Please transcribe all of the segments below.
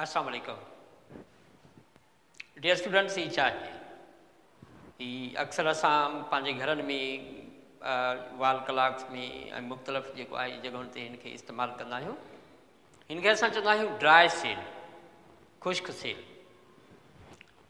السلام عليڪم dear students هي چاهي هي اڪثر اسان پنهنجي گهرن ۾ وال ڪلاڪس ۾ ۽ مختلف جيڪو آهي جڳهن تي هن کي استعمال ڪندا آهيون هن کي اسان چوندا آهيون ڊرائي سيل خشڪ سيل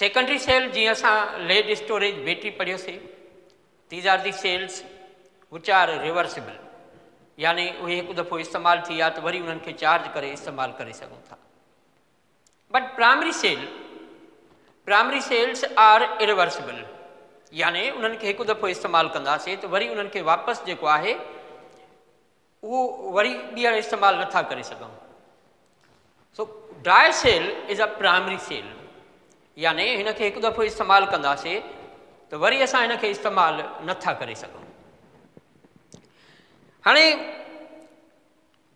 سيڪنڊري سيل جيئن اسان ليڊ اسٽوريج بيٽري پڙهيو سي these are the cells which are reversible يعني اهي هڪ دفعو استعمال ٿي ويا ته وري انهن کي چارج ڪري استعمال ڪري سگهون ٿا but primary cell primary cells are irreversible يعني انهن کي هڪ دفعو استعمال ڪنداسي ته وري انهن کي واپس جيڪو آهي اهو وري ٻيهر استعمال نٿا ڪري سگهون so dry cell is a primary cell يعني هن کي هڪ دفعو استعمال ڪنداسي ته وري اسان هن کي استعمال نٿا ڪري سگهون هاڻي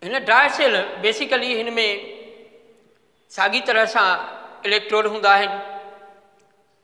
هن ڊرائي سيل بيسيڪلي هن ۾ ساڳي طرح سان اليڪٽروڊ هوندا آهن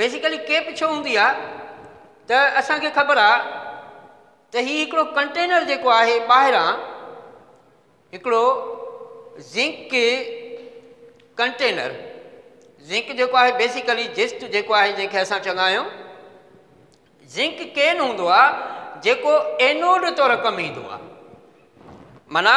بيسيڪلي ڪيپ ڇو هوندي آ ته اسان کي خبر آ ته هي هڪڙو ڪنٽينر جيڪو آهي ٻاهران هڪڙو زنڪ ڪنٽينر زنڪ جيڪو آهي بيسيڪلي جسٽ جيڪو آهي جنهن کي اسان چوندا آهيون زنڪ ڪين هوندو آ جيڪو اينوڊ طور ڪم ايندو آ معنی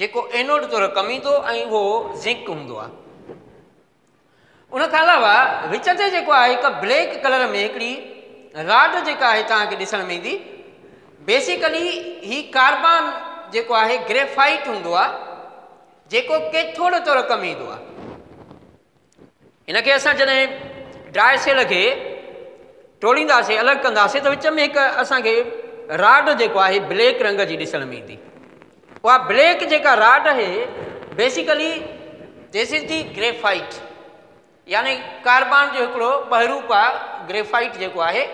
جيڪو اينوڊ طور ڪم ايندو ۽ اهو زنڪ هوندو آهي ان کان علاوه وچ تي جيڪو آهي هڪ بليڪ ڪلر ۾ هڪڙي راڊ جيڪا آهي توهانکي ڏسڻ ۾ ايندي بيسيڪلي هي ڪاربان جيڪو آهي گريفائيٽ هوندو آهي جيڪو ڪيٿوڊ طور ڪم ايندو آهي هن کي اسان جڏهن ڊرائي سيل کي ٽوڙينداسي الڳ ڪنداسي ته وچ ۾ هڪ اسان کي راڊ جيڪو آهي بليڪ رنگ جي ڏسڻ ۾ ايندي اها بليڪ جيڪا راڊ آهي basically this is the graphite يعني ڪاربان جو هڪڙو ٻهروپ آهي گريفائيٽ جيڪو آهي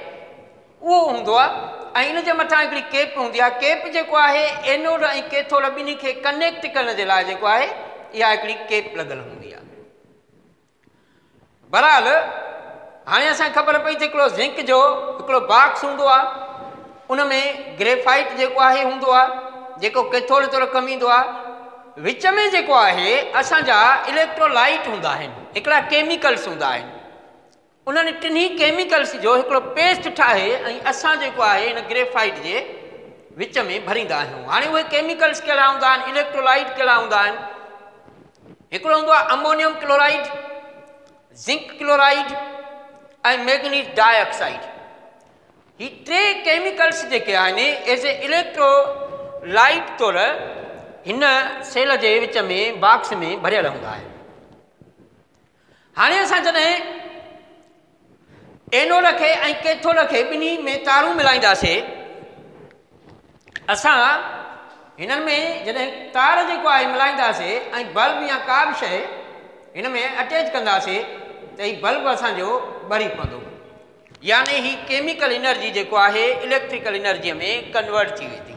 اهو هوندو آهي ۽ ان جي مٿان هڪڙي ڪيپ هوندي آهي ڪيپ جيڪو آهي اينوڊ ۽ ڪيٿوڊ ٻنهي کي ڪنيڪٽ ڪرڻ جي لاء جيڪو آهي اها هڪڙي ڪيپ لڳل هوندي آهي برحال هاڻي اسان خبر پئي ته هڪڙو زنڪ جو هڪڙو باڪس هوندو آهي ان ۾ گريفائٽ جيڪو آهي هوندو آهي جيڪو ڪيٿوڊ طور ڪم ايندو آهي وچ ۾ جيڪو آهي اسانجا اليڪٽرولائيٽ هوندا آهن هڪڙا ڪيميڪلس هوندا آهن انهن ٽنهي ڪيميڪلز جو هڪڙو پيسٽ ٺاهي ۽ اسان جيڪو آهي ان گريفائيٽ جي وچ ۾ ڀريندا آهيون هاڻي اهي ڪيميڪلز ڪهڙا هوندا آهن اليڪٽرولائيٽ ڪهڙا هوندا آهن هڪڙو هوندو آهي ammonium chloride zinc chloride ۽ manganese dioxide هي ٽي ڪيميڪلز جيڪي آهن ایز اي اليڪٽرولائيٽ طور هن سيل جي وچ ۾ باڪس ۾ ڀريل هوندا آهن هاڻي اسان جڏهن اينوڊ کي ۽ ڪيٿوڊ کي ٻنهي ۾ تارون ملائينداسين اسان هنن ۾ جڏهن تار جيڪو آهي ملائينداسين ۽ بلب يا ڪا به شيء هن ۾ اٽيچ ڪنداسين ته هي بلب اسان جو ٻري پوندو يعني هي ڪيميڪل انرجي جيڪو آهي اليڪٽريڪل انرجي ۾ ڪنورٽ ٿي ويندي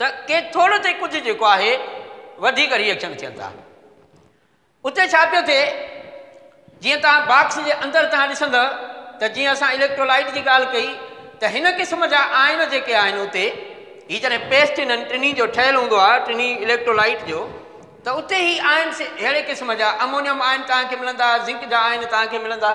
ته ڪي ٿورو تي ڪجهه جيڪو آهي وڌيڪ ريئيڪشن ٿين ٿا اتي ڇا پيو ٿئي جيئن تان باڪس جي اندر تان ڏسند ته جيئن اسان اليڪٽرولائيٽ جي ڳالهه ڪئي ته هن قسم جا آئن جيڪي آهن اتي هي جڏهن پيسٽ انهن ٽنهي جو ٺهيل هوندو آهي ٽنهي اليڪٽرولائيٽ جو ته اتي هي آئن اهڙي قسم جا امونيم آئن تان کي ملندا زنڪ جا آئن تان کي ملندا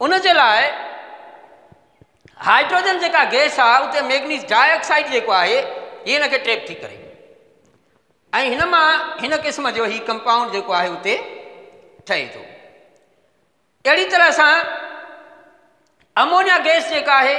ان جي لاء هائڊروجن جيڪا گيس آهي اتي ميگنيز ڊاء آڪسائيڊ جيڪو آهي هي هن کي ٽريپ ٿي ڪري ۽ هن مان هن قسم جو هي ڪمپائونڊ جيڪو آهي اتي ٺهي ٿو اهڙي طرح سان امونيا گيس جيڪا آهي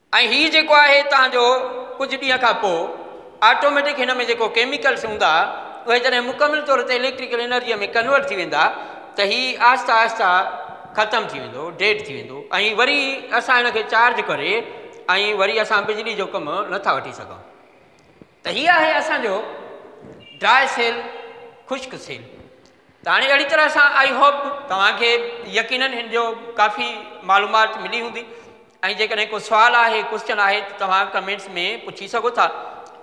۽ هي جيڪو آهي تهان جو ڪجهه ڏينهن کان پوء آٽوميٽڪ هن ۾ جيڪو ڪيميڪلس هوندا اهي جڏهن مڪمل طور تي اليڪٽريڪل انرجيء ۾ ڪنورٽ ٿي ويندا ته هي آهسته آهسته ختم ٿي ويندو ڊيڊ ٿي ويندو ۽ وري اسان هن کي چارج ڪري ۽ وري اسان بجلي جو ڪم نٿا وٺي سگهون ته هي آهي اسان جو ڊرائي سيل خشڪ سيل ته هاڻي اهڙي طرح سان آئي هوپ توهانکي يقينن هن جو ڪافي معلومات ملي هوندي ۽ جيڪڏهن ڪو سوال آهي ڪوشچن آهي ته توهان ڪمينٽس ۾ پڇي سگهو ٿا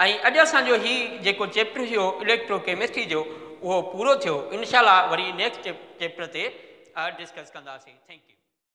۽ اڄ اسان جو هي جيڪو چيپٽر هيو اليڪٽرو ڪيمسٽري جو اهو پورو ٿيو انشاء الله وري نيڪسٽ چيپٽر تي ڊسڪس ڪنداسين ٿينڪ يو